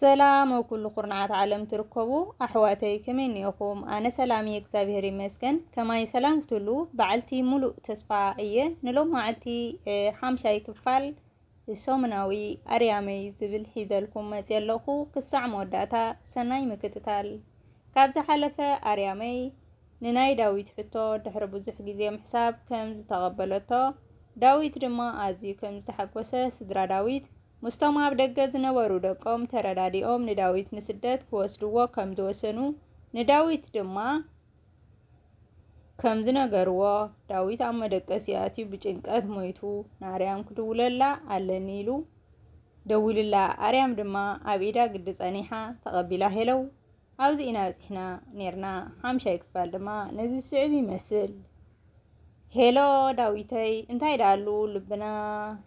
ሰላም ኣብ ኩሉ ኩርናዓት ዓለም ትርከቡ ኣሕዋተይ ከመይ እኒኦኹም? ኣነ ሰላም እየ እግዚኣብሄር ይመስገን። ከማይ ሰላም ክትህሉ በዓልቲ ሙሉእ ተስፋ እየ። ንሎማዓልቲ ሓምሻይ ክፋል ሰሙናዊ ኣርያመይ ዝብል ሒዘልኩም መፅየ ኣለኹ። ክሳዕ መወዳእታ ሰናይ ምክትታል። ካብ ዝሓለፈ ኣርያመይ ንናይ ዳዊት ሕቶ ድሕሪ ብዙሕ ግዜ ምሕሳብ ከም ዝተቐበለቶ ዳዊት ድማ ኣዝዩ ከም ዝተሓጎሰ ስድራ ዳዊት ምስቶም ኣብ ደገ ዝነበሩ ደቆም ተረዳዲኦም ንዳዊት ንስደት ክወስድዎ ከም ዝወሰኑ ንዳዊት ድማ ከም ዝነገርዎ ዳዊት ኣብ መደቀሲ ኣትዩ ብጭንቀት ሞይቱ ንኣርያም ክድውለላ ኣለኒ ኢሉ ደዊልላ ኣርያም ድማ ኣብ ኢዳ ግዲ ጸኒሓ ተቐቢላ ሄለው ኣብዚ ኢና በጺሕና ኔርና። ሓምሻይ ክፋል ድማ ነዚ ዝስዕብ ይመስል። ሄሎ ዳዊተይ፣ እንታይ ደኣሉ ልብና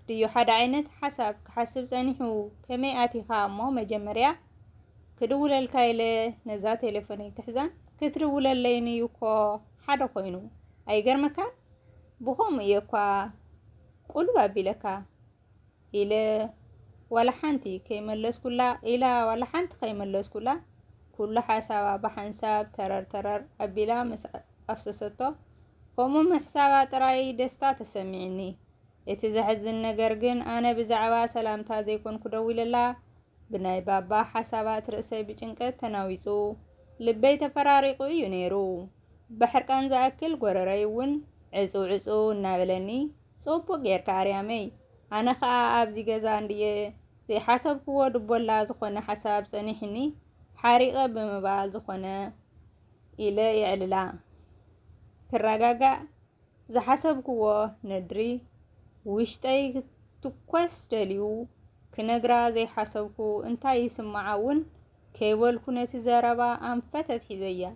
ድዩ ሓደ ዓይነት ሓሳብ ክሓስብ ጸኒሑ? ከመይ ኣቲኻ እሞ መጀመርያ ክድውለልካ ኢለ ነዛ ቴሌፎነይ ክሕዛን ክትድውለለይን እዩ እኮ ሓደ ኮይኑ ኣይገርመካን? ብኸምኡ እየ እኳ ቁልብ ኣቢለካ። ኢለ ዋላ ሓንቲ ከይመለስኩላ ኢላ ዋላ ሓንቲ ከይመለስኩላ ኩሉ ሓሳባ ብሓንሳብ ተረር ተረር ኣቢላ ምስ ኣፍሰሰቶ ከምኡ ምሕሳባ ጥራይ ደስታ ተሰሚዕኒ። እቲ ዘሕዝን ነገር ግን ኣነ ብዛዕባ ሰላምታ ዘይኮንኩ ደዊለላ ብናይ ባባ ሓሳባት ርእሰይ ብጭንቀት ተናዊጹ ልበይ ተፈራሪቑ እዩ ነይሩ። ብሕርቃን ዝኣክል ጎረረይ እውን ዕጹው ዕጹው እናበለኒ ጽቡቅ ጌርካ ኣርያመይ ኣነ ከኣ ኣብዚ ገዛ እንድየ ዘይሓሰብክዎ ድቦላ ዝኾነ ሓሳብ ጸኒሕኒ ሓሪቀ ብምባል ዝኾነ ኢለ የዕልላ ክረጋጋእ ዝሓሰብክዎ ነድሪ ውሽጠይ ክትኮስ ደልዩ ክነግራ ዘይሓሰብኩ እንታይ ይስምዓ እውን ከይበልኩ ነቲ ዘረባ ኣንፈት ኣትሒዘያ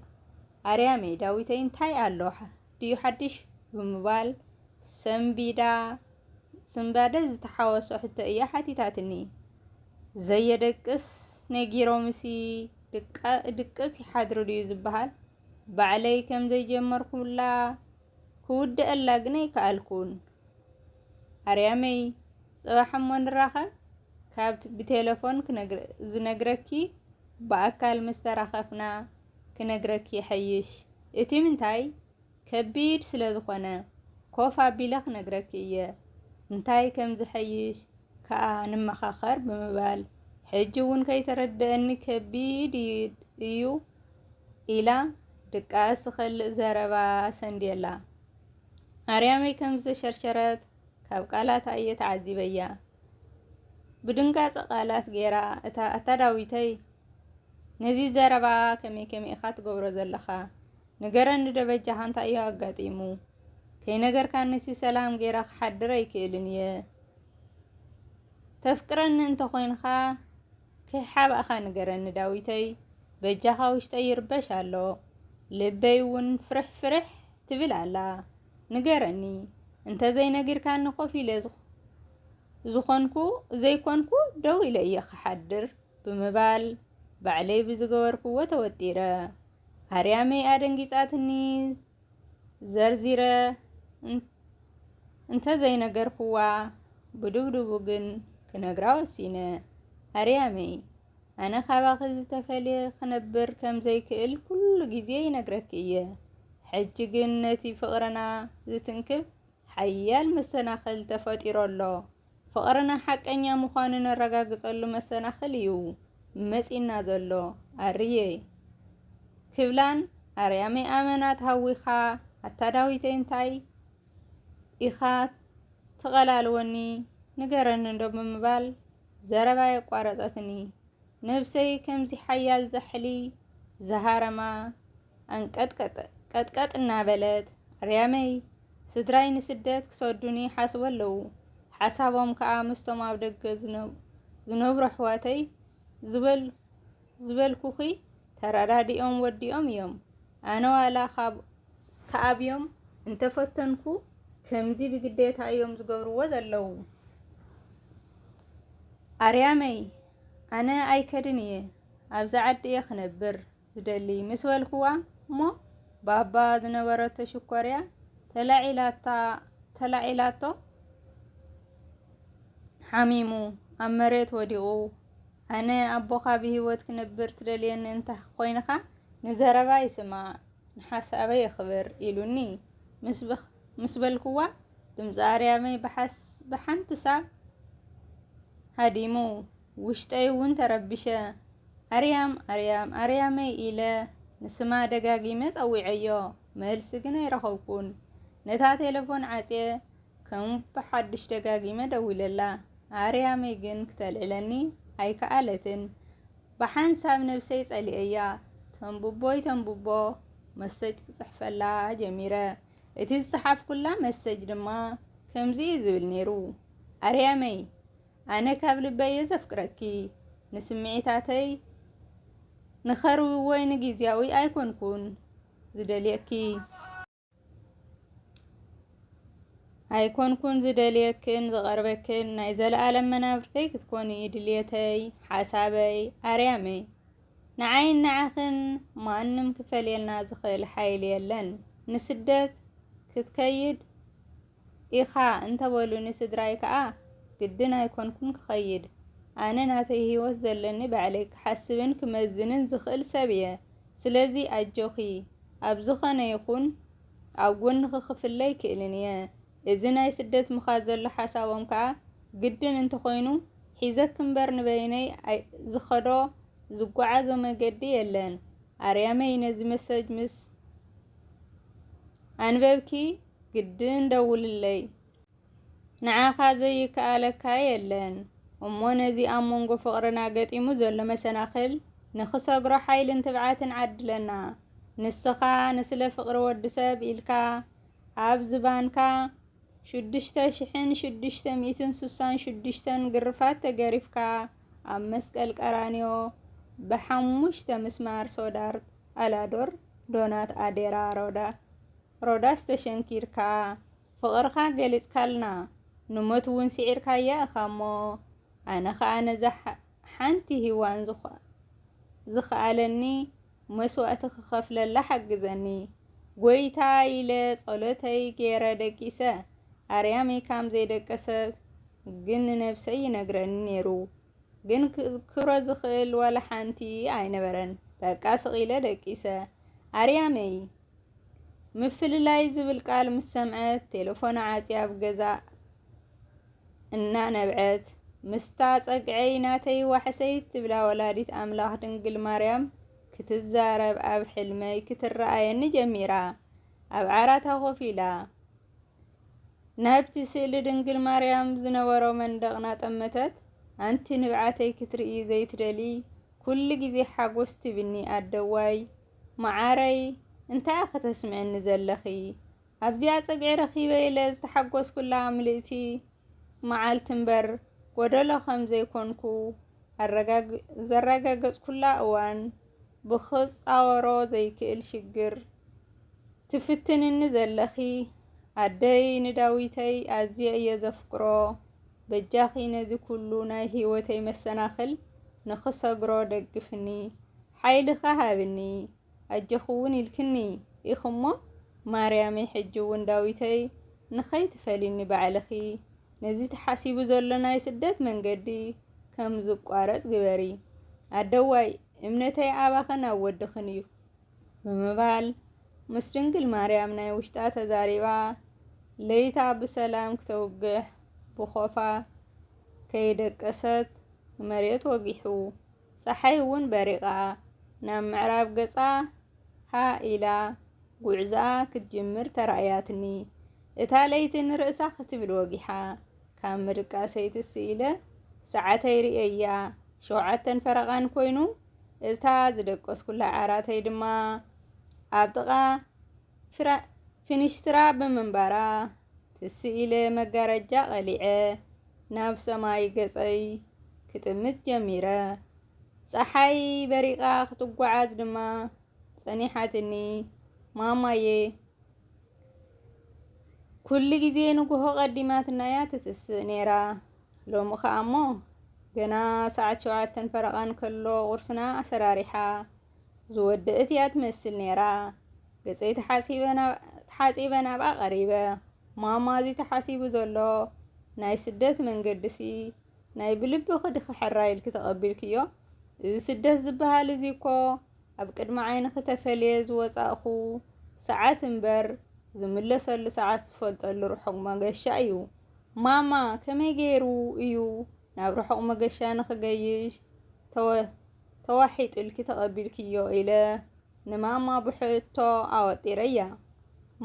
ኣርያመይ ዳዊተይ እንታይ ኣሎ ድዩ ሓድሽ ብምባል ሰንቢዳ ስንባደ ዝተሓወሶ ሕቶ እያ ሓቲታትኒ። ዘየደቅስ ነጊሮምሲ ድቅስ ይሓድሩ ድዩ ዝበሃል? ባዕለይ ከም ዘይጀመርኩላ ክውድኣላ ግን ኣይከኣልኩን። ኣርያመይ ጽባሕ እሞ ንራኸብ፣ ካብ ብቴለፎን ዝነግረኪ ብኣካል ምስ ተራኸፍና ክነግረኪ ይሐይሽ እቲ ምንታይ ከቢድ ስለ ዝኾነ ኮፍ ኣቢለ ክነግረኪ እየ እንታይ ከም ዝሐይሽ ከኣ ንመኻኸር ብምባል ሕጂ እውን ከይተረደኣኒ ከቢድ እዩ ኢላ ድቃስ ዝኸልእ ዘረባ ሰንድየላ ኣርያመይ ከም ዝተሸርሸረት ካብ ቃላታ እየ ተዓዚበያ ብድንጋጸ ቃላት ጌራ እታ ኣታ ዳዊተይ ነዚ ዘረባ ከመይ ከመይ ኢኻ ትገብሮ ዘለኻ ንገረኒ ዶ በጃኻ እንታይ እዩ ኣጋጢሙ ከይነገርካኒሲ ሰላም ጌራ ክሓድር ኣይክእልን እየ ተፍቅረኒ እንተኾይንኻ ከይሓባእኻ ንገረኒ ዳዊተይ በጃኻ ውሽጠይ ይርበሽ ኣሎ ልበይ እውን ፍርሕ ፍርሕ ትብል ኣላ ንገረኒ እንተዘይነጊርካኒ ኮፍ ኢለ ዝኾንኩ ዘይኮንኩ ደው ኢለ እየ ክሓድር ብምባል ባዕለይ ብዝገበርክዎ ተወጢረ ኣርያመይ ኣደንጊጻትኒ ዘርዚረ እንተዘይነገርክዋ ብድብድቡ ግን ክነግራ ወሲነ። ኣርያመይ ኣነ ካባኺ ዝተፈልየ ክነብር ከም ዘይክእል ኩሉ ግዜ ይነግረኪ እየ። ሕጂ ግን ነቲ ፍቕርና ዝትንክፍ ሓያል መሰናኽል ተፈጢሩ ኣሎ። ፍቕርና ሓቀኛ ምዃኑ ነረጋግጸሉ መሰናኽል እዩ መጺእና ዘሎ ኣርየይ። ክብላን ኣርያመይ ኣመና ተሃዊኻ ኣታ ዳዊተይ እንታይ ኢኻ ትቐላልወኒ ንገረኒ እንዶ ብምባል ዘረባ የቋረጸትኒ። ነብሰይ ከምዚ ሓያል ዛሕሊ ዝሃረማ ኣንቀጥቀጠ ቀጥቀጥ እናበለት ኣርያመይ ስድራይ ንስደት ክሰዱኒ ይሓስቡ ኣለዉ ሓሳቦም ከዓ ምስቶም ኣብ ደገ ዝነብሩ ኣሕዋተይ ዝበልኩኺ ተረዳዲኦም ወዲኦም እዮም ኣነ ዋላ ከኣብዮም እንተፈተንኩ ከምዚ ብግዴታ እዮም ዝገብርዎ ዘለዉ ኣርያመይ ኣነ ኣይከድን እየ ኣብዚ ዓዲ እየ ክነብር ዝደሊ ምስ በልኩዋ እሞ ባባ ዝነበረቶ ሽኮርያ ተላዒላታ ተላዒላቶ ሓሚሙ ኣብ መሬት ወዲቑ ኣነ ኣቦኻ ብሂወት ክነብር ትደልየኒ እንተ ኮይንኻ ንዘረባ ይስማዕ ንሓሳበይ የኽብር ኢሉኒ ምስ በልኩዋ ድምፂ ኣርያመይ ብሓንቲ ሳብ ሃዲሙ ውሽጠይ እውን ተረቢሸ። ኣርያም! ኣርያም! ኣርያመይ! ኢለ ንስማ ደጋጊመ ጸዊዐዮ። መልሲ ግን ኣይረኸብኩን። ነታ ቴለፎን ዓጽየ ከም ብሓዱሽ ደጋጊመ ደዊለላ። ኣርያመይ ግን ክተልዕለኒ ኣይከኣለትን። ብሓንሳብ ነብሰይ ጸሊኤያ። ተንብቦይ ተንብቦ መሰጅ ክጽሕፈላ ጀሚረ። እቲ ዝጸሓፍኩላ መሰጅ ድማ ከምዚ እዩ ዝብል ነይሩ፣ ኣርያመይ! ኣነ ካብ ልበይ እየ ዘፍቅረኪ ንስምዒታተይ ንኸርዊ ወይ ንጊዜያዊ ኣይኮንኩን ዝደልየኪ ኣይኮንኩን ዝደልየክን ዝቐርበክን ናይ ዘለኣለም መናብርተይ ክትኮኒ እዩ ድልየተይ ሓሳበይ ኣርያመይ ንዓይን ንዓኽን ማንም ክፈልየልና ዝኽእል ሓይሊ የለን ንስደት ክትከይድ ኢኻ እንተበሉኒ ስድራይ ከኣ ግድን ኣይኮንኩን ክኸይድ። ኣነ ናተይ ህይወት ዘለኒ ባዕለይ ክሓስብን ክመዝንን ዝኽእል ሰብ እየ። ስለዚ ኣጆኺ ኣብ ዝኾነ ይኹን ኣብ ጎንኺ ክፍለ ኣይክእልን እየ። እዚ ናይ ስደት ምኻድ ዘሎ ሓሳቦም ከኣ ግድን እንተኾይኑ ሒዘኪ እምበር ንበይነይ ዝኸዶ ዝጓዓዞ መገዲ የለን። ኣርያመይ ነዚ መሰጅ ምስ ኣንበብኪ ግድን ደውልለይ ንዓኻ ዘይከኣለካ የለን እሞ ነዚ ኣብ መንጎ ፍቕርና ገጢሙ ዘሎ መሰናኽል ንኽሰግሮ ሓይልን ትብዓትን ዓድለና ንስኻ ንስለ ፍቕሪ ወዲ ሰብ ኢልካ ኣብ ዝባንካ ሽዱሽተ ሽሕን ሽዱሽተ ሚእትን ስሳን ሽዱሽተን ግርፋት ተገሪፍካ ኣብ መስቀል ቀራንዮ ብሓሙሽተ ምስማር ሶዳር ኣላዶር ዶናት ኣዴራ ሮዳ ሮዳስ ተሸንኪርካ ፍቕርኻ ገሊጽካልና ንሞት ውን ስዒርካያ እኻሞ ኣነ ኸኣ ነዛ ሓንቲ ሂዋን ዝኸኣለኒ መስዋእቲ ክኸፍለላ ሓግዘኒ ጎይታ ኢለ ጸሎተይ ጌረ ደቂሰ ኣርያመይ ካም ዘይደቀሰት ግን ንነብሰይ ይነግረኒ ኔሩ ግን ክዝክሮ ዝኽእል ዋላ ሓንቲ ኣይነበረን በቃ ስቒለ ደቂሰ ኣርያመይ ምፍልላይ ዝብል ቃል ምስ ሰምዐት ቴለፎና ዓፅያ ኣብ ገዛ እናነብዐት ምስታ ፀግዐይ ናተይ ዋሕሰይ ትብላ ወላዲት ኣምላኽ ድንግል ማርያም ክትዛረብ ኣብ ሕልመይ ክትረኣየኒ ጀሚራ። ኣብ ዓራታ ኮፍ ኢላ ናብቲ ስእሊ ድንግል ማርያም ዝነበሮ መንደቕ ናጠመተት ኣንቲ ንብዓተይ ክትርኢ ዘይትደሊ ኩሉ ግዜ ሓጎስ ትብኒ ኣደዋይ መዓረይ እንታያ ከተስምዕኒ ዘለኺ ኣብዚኣ ጽግዒ ረኺበ ኢለ ዝተሓጎስኩላ ምልእቲ መዓልቲ እምበር ጎደሎ ከም ዘይኮንኩ ዘረጋገጽኩላ እዋን ብኽጻወሮ ዘይክእል ሽግር ትፍትንኒ ዘለኺ ኣደይ ንዳዊተይ ኣዝየ እየ ዘፍቅሮ በጃኺ ነዚ ኩሉ ናይ ህይወተይ መሰናኽል ንኽሰግሮ ደግፍኒ። ሓይልኻ ሃብኒ ኣጆኺውን ኢልክኒ ኢኺ'ሞ ማርያመይ ሕጂ'ውን ዳዊተይ ንኸይትፈሊኒ ባዕልኺ ነዚ ተሓሲቡ ዘሎ ናይ ስደት መንገዲ ከም ዝቋረጽ ግበሪ ኣደዋይ እምነተይ ኣባኽን ኣብ ወድኽን እዩ ብምባል ምስ ድንግል ማርያም ናይ ውሽጣ ተዛሪባ ለይታ ብሰላም ክተውግሕ ብኾፋ ከይደቀሰት መሬት ወጊሑ። ጸሓይ እውን በሪቓ ናብ ምዕራብ ገጻ ሃእ ኢላ ጉዕዞኣ ክትጅምር ተራእያትኒ። እታ ለይቲ ንርእሳ ክትብል ወጊሓ ካብ ምድቃሰይ ትስ ኢለ ሰዓተይ ርእየያ፣ ሸውዓተን ፈረቓን ኮይኑ፣ እታ ዝደቀስኩላ ዓራተይ ድማ ኣብ ጥቓ ፊንሽትራ ብምንባራ ትስ ኢለ መጋረጃ ቐሊዐ ናብ ሰማይ ገጸይ ክጥምት ጀሚረ። ጸሓይ በሪቓ ክትጓዓዝ ድማ ጸኒሓትኒ። ማማየ ኩሉ ግዜ ንጉሆ ቀዲማትናያ ትትስእ ነይራ። ሎሚ ከኣሞ ገና ሰዓት ሸውዓተን ፈረቓን ከሎ ቁርስና ኣሰራሪሓ ዝወደእት እያ ትመስል ነይራ። ገጸይ ተሓጺበ ናብኣ ቀሪበ፣ ማማ እዚ ተሓሲቡ ዘሎ ናይ ስደት መንገዲሲ ናይ ብልብኺ ድኺ ሕራይ ኢልኪ ተቐቢልክዮ? እዚ ስደት ዝበሃል እዚ እኮ ኣብ ቅድሚ ዓይንኺ ተፈልየ ዝወጻእኹ ሰዓት እምበር ዝምለሰሉ ሰዓት ዝፈልጠሉ ርሑቕ መገሻ እዩ። ማማ ከመይ ገይሩ እዩ ናብ ርሑቕ መገሻ ንኽገይሽ ተዋሒጡልኪ ተቐቢልክዮ ኢለ ንማማ ብሕቶ ኣወጢረያ።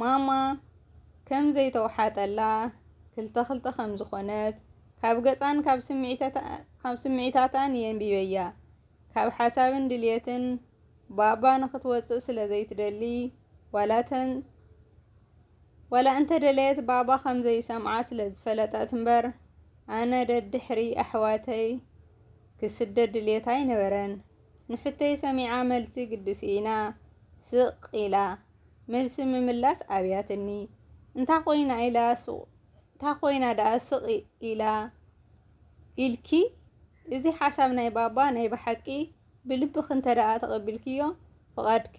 ማማ ከም ዘይተውሓጠላ፣ ክልተ ክልተ ከም ዝኾነት ካብ ገጻን ካብ ስምዒታታን የንቢበያ። ካብ ሓሳብን ድልየትን ባባ ንኽትወጽእ ስለ ዘይትደሊ ዋላ ዋላ እንተ ደለየት ባባ ከም ዘይሰምዓ ስለ ዝፈለጠት እምበር ኣነ ደድሕሪ ኣሕዋተይ ክስደድ ድልየት ኣይነበረን። ንሕቶይ ሰሚዓ መልሲ ግዲ ስኢና ስቕ ኢላ። መልሲ ምምላስ ኣብያትኒ። እንታ ኮይና ኢላ ሱቕ እንታ ኮይና ደኣ ስቕ ኢላ ኢልኪ? እዚ ሓሳብ ናይ ባባ ናይ ብሓቂ ብልብኺ እንተደኣ ተቐቢልክዮ ፍቓድኪ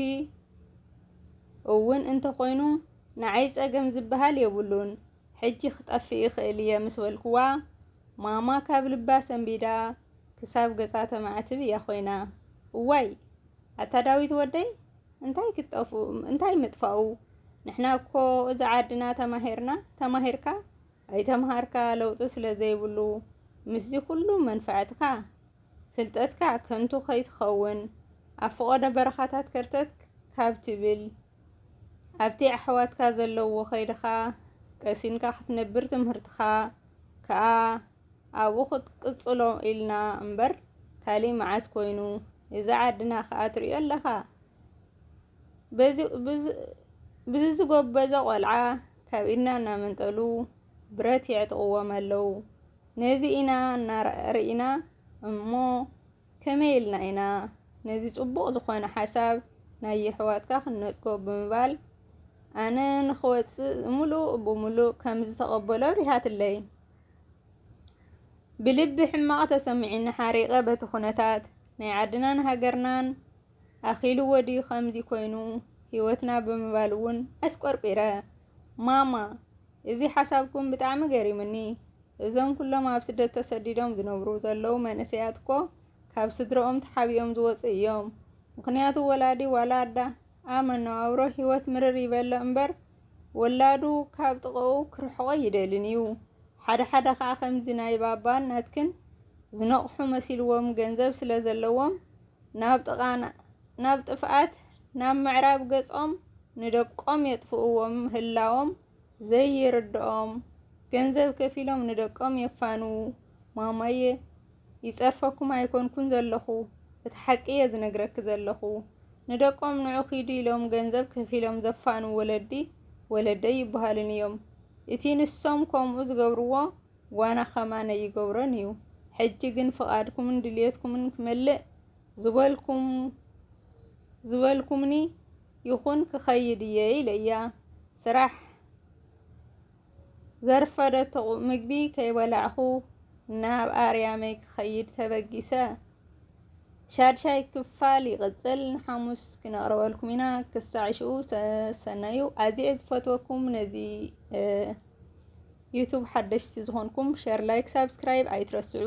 እውን እንተኾይኑ ንዓይ ጸገም ዝበሃል የብሉን ሕጂ ክጠፍእ ይኽእል እየ ምስ በልክዋ ማማ ካብ ልባ ሰንቢዳ ክሳብ ገጻ ተማዕትብ እያ ኮይና እዋይ ኣታ ዳዊት ወደይ እንታይ ክትጠፍኡ እንታይ ምጥፋኡ ንሕና እኮ እዚ ዓድና ተማሂርና ተማሂርካ ኣይተምሃርካ ለውጢ ስለ ዘይብሉ ምስዚ ኩሉ መንፋዕትካ ፍልጠትካ ከንቱ ከይትኸውን ኣብ ፍቖዶ በረኻታት ከርተት ካብ ትብል ኣብቲ ኣሕዋትካ ዘለዎ ከይድኻ ቀሲንካ ክትነብር ትምህርትኻ ከኣ ኣብኡ ክትቅጽሎ ኢልና እምበር ካሊእ መዓስ ኮይኑ እዚ ዓድና ከኣ ትሪኦ ኣለኻ ብዚ ዝጎበዘ ቆልዓ ካብ ኢድና እናመንጠሉ ብረት የዕጥቕዎም ኣለው። ነዚ ኢና እናርኢና እሞ ከመይ ኢልና ኢና ነዚ ጽቡቕ ዝኾነ ሓሳብ ናይ የሕዋትካ ክንነጽጎ ብምባል ኣነ ንኽወጽእ ምሉእ ብምሉእ ከም ዝተቐበሎ ኣብሪሃትለይ። ብልቢ ሕማቕ ተሰሚዑኒ ሓሪቐ በቲ ኩነታት ናይ ዓድናን ሃገርናን ኣኺልዎ ድዩ ከምዚ ኮይኑ ህይወትና ብምባል እውን ኣስቆርቊረ። ማማ እዚ ሓሳብኩም ብጣዕሚ ገሪሙኒ እዞም ኩሎም ኣብ ስደት ተሰዲዶም ዝነብሩ ዘለዉ መንእሰያት እኮ ካብ ስድረኦም ተሓቢኦም ዝወፁ እዮም። ምክንያቱ ወላዲ ዋላ ኣዳ ኣብ መነባብሮ ህይወት ምርር ይበሎ እምበር ወላዱ ካብ ጥቐኡ ክርሕቆ ይደልን እዩ። ሓደ ሓደ ከዓ ከምዚ ናይ ባባን ናትክን ዝነቕሑ መሲልዎም ገንዘብ ስለ ዘለዎም ናብ ጥቓ ናብ ጥፍኣት ናብ ምዕራብ ገጾም ንደቆም የጥፍእዎ ምህላዎም ዘይርድኦም ገንዘብ ከፊሎም ንደቆም የፋንዉ ማማየ ይጸርፈኩም ኣይኮንኩን ዘለኹ እቲ ሓቂ እየ ዝነግረኪ ዘለኹ ንደቆም ንዑ ኪዱ ኢሎም ገንዘብ ከፊሎም ዘፋንዉ ወለዲ ወለደይ ይበሃሉን እዮም እቲ ንሶም ከምኡ ዝገብርዎ ጓና ከማነይ ይገብሮን እዩ ሕጂ ግን ፍቃድኩምን ድልየትኩምን ክመልእ ዝበልኩም ዝበልኩምኒ ይኹን ክኸይድ እየ ኢለያ ስራሕ ዘርፈደቶ ምግቢ ከይበላዕኹ ናብ ኣርያመይ ክኸይድ ተበጊሰ። ሻድሻይ ክፋል ይቕጽል ንሓሙስ ክነቕርበልኩም ኢና። ክሳዕ ሽኡ ሰሰናዩ ኣዝየ ዝፈትወኩም ነዚ ዩቱብ ሓደሽቲ ዝኾንኩም ሸር፣ ላይክ፣ ሳብስክራይብ ኣይትረስዑ።